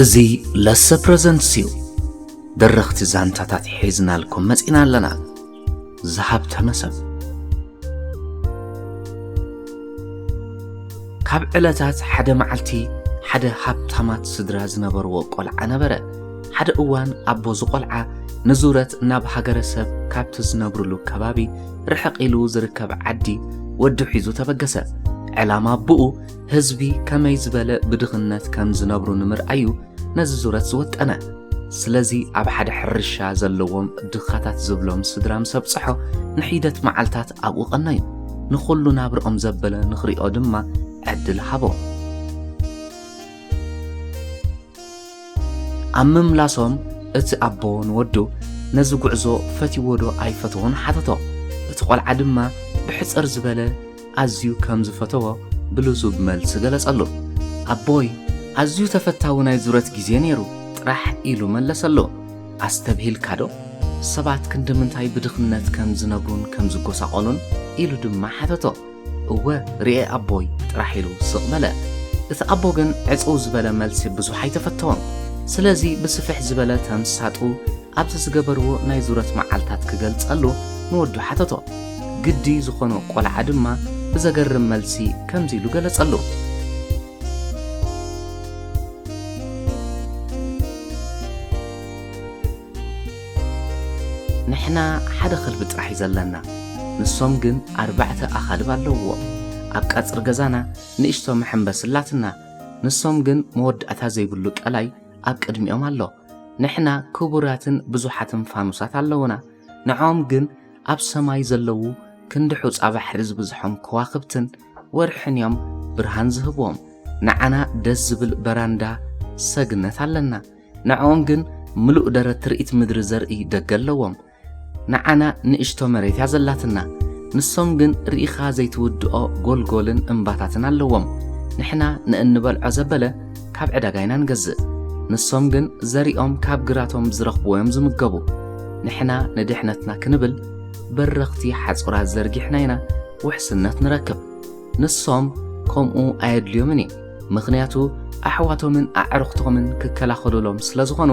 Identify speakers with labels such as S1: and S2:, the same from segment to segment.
S1: እዚ ለሰ ፕረዘንትስ እዩ ደረኽቲ ዛንታታት ሒዝናልኩም መፂና ኣለና ዝሃብተመ ሰብ ካብ ዕለታት ሓደ መዓልቲ ሓደ ሃብታማት ስድራ ዝነበርዎ ቆልዓ ነበረ ሓደ እዋን ኣቦ ዝቆልዓ ንዙረት ናብ ሃገረ ሰብ ካብቲ ዝነብርሉ ከባቢ ርሕቕ ኢሉ ዝርከብ ዓዲ ወዱ ሒዙ ተበገሰ። ዕላማ ኣቦኡ ህዝቢ ከመይ ዝበለ ብድኽነት ከም ዝነብሩ ንምርኣዩ ነዚ ዙረት ዝወጠነ። ስለዚ ኣብ ሓደ ሕርሻ ዘለዎም ድኻታት ዝብሎም ስድራ ምስ ኣብጽሖ ንሒደት መዓልታት ኣብኡ ቀነዩ። ንኹሉ ናብርኦም ዘበለ ንኽሪኦ ድማ ዕድል ሃቦ። ኣብ ምምላሶም እቲ ኣቦ ንወዱ ነዚ ጉዕዞ ፈትዎዶ ኣይፈተዎን ሓተቶ። እቲ ቆልዓ ድማ ብሕጽር ዝበለ ኣዝዩ ከም ዝፈተዎ ብልዙብ መልሲ ገለጸሉ። ኣቦይ ኣዝዩ ተፈታዊ ናይ ዙረት ግዜ ነይሩ ጥራሕ ኢሉ መለሰሉ። ኣስተብሂልካዶ? ሰባት ክንድምንታይ ብድኽነት ከም ዝነብሩን ከም ዝጎሳቖሉን? ኢሉ ድማ ሓተቶ። እወ ርኤ ኣቦይ ጥራሕ ኢሉ ስቕ በለ። እቲ ኣቦ ግን ዕጽው ዝበለ መልሲ ብዙሕ ኣይተፈተወን። ስለዚ ብስፍሕ ዝበለ ተምሳጡ ኣብዚ ዝገበርዎ ናይ ዙረት መዓልታት ክገልጸሉ ንወዱ ሓተቶ። ግዲ ዝኾኖ ቆልዓ ድማ ብዘገርም መልሲ ከምዚ ኢሉ ገለጸሉ። ንሕና ሓደ ኸልቢ ጥራሕ እዩ ዘለና፣ ንሶም ግን ኣርባዕተ ኣኻልብ ኣለዉዎም። ኣብ ቀጽሪ ገዛና ንእሽቶ መሐንበሲ ኣላትና፣ ንሶም ግን መወዳእታ ዘይብሉ ቀላይ ኣብ ቅድሚኦም ኣሎ። ንሕና ክቡራትን ብዙሓትን ፋኑሳት ኣለዉና፣ ንዖኦም ግን ኣብ ሰማይ ዘለዉ ክንዲ ሑጻ ባሕሪ ዝብዝሖም ከዋኽብትን ወርሕን እዮም ብርሃን ዝህቡዎም። ንዓና ደስ ዝብል በራንዳ ሰግነት ኣለና። ንዐኦም ግን ምሉእ ደረት ትርኢት ምድሪ ዘርኢ ደገ ኣለዎም። ንዓና ንእሽቶ መሬት እያ ዘላትና። ንሶም ግን ርኢኻ ዘይትውድኦ ጎልጎልን እምባታትን ኣለዎም። ንሕና ንእንበልዖ ዘበለ ካብ ዕዳጋ ኢና ንገዝእ። ንሶም ግን ዘሪኦም ካብ ግራቶም ብዝረኽብዎ እዮም ዝምገቡ። ንሕና ንድሕነትና ክንብል በረኽቲ ሓጹራት ዘርጊሕና ኢና ውሕስነት ንረክብ። ንሶም ከምኡ ኣየድልዮምን እዩ ምኽንያቱ ኣሕዋቶምን ኣዕርኽቶምን ክከላኸሉሎም ስለ ዝኾኑ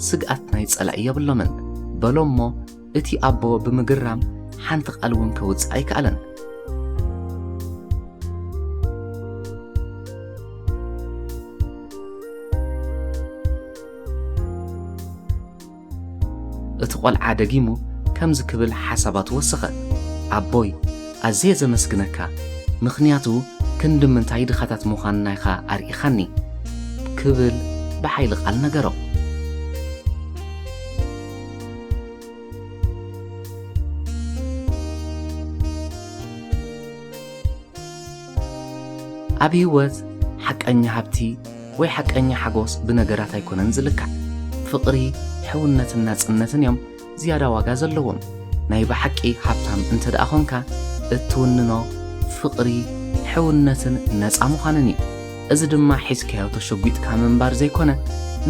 S1: ስግኣት ናይ ጸላኢ የብሎምን በሎ እሞ እቲ ኣቦ ብምግራም ሓንቲ ቃል እውን ከውፅእ ኣይከኣለን እቲ ቈልዓ ደጊሙ ከምዚ ክብል ሓሳባቱ ወሰኸ፣ ኣቦይ፣ ኣዝየ ዘመስግነካ፣ ምኽንያቱ ክንዲ ምንታይ ድኻታት ምዃንና ኢኻ ኣርኢኻኒ፣ ክብል ብሓይሊ ቓል ነገሮ። ኣብ ህይወት ሓቀኛ ሃብቲ ወይ ሓቀኛ ሓጎስ ብነገራት ኣይኮነን ዝልካዕ። ፍቕሪ፣ ሕውነትን ናጽነትን እዮም ዝያዳ ዋጋ ዘለዎም። ናይ ብሓቂ ሃብታም እንተድኣ ኾንካ እትውንኖ ፍቕሪ፣ ሕውነትን ነጻ ምዃንን እዩ። እዚ ድማ ሒዝካዮ ተሸጒጥካ ምንባር ዘይኮነ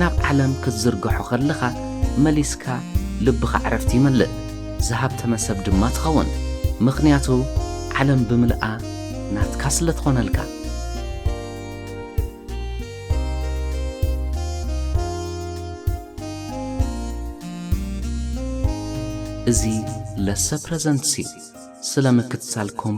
S1: ናብ ዓለም ክትዝርግሖ ከለኻ መሊስካ ልብኻ ዕረፍቲ ይመልእ ዝሃብተመ ሰብ ድማ ትኸውን ምኽንያቱ ዓለም ብምልኣ ናትካ ስለ ትኾነልካ። እዚ ለሰ ፕረዘንትስ እዩ ስለ ምክትታልኩም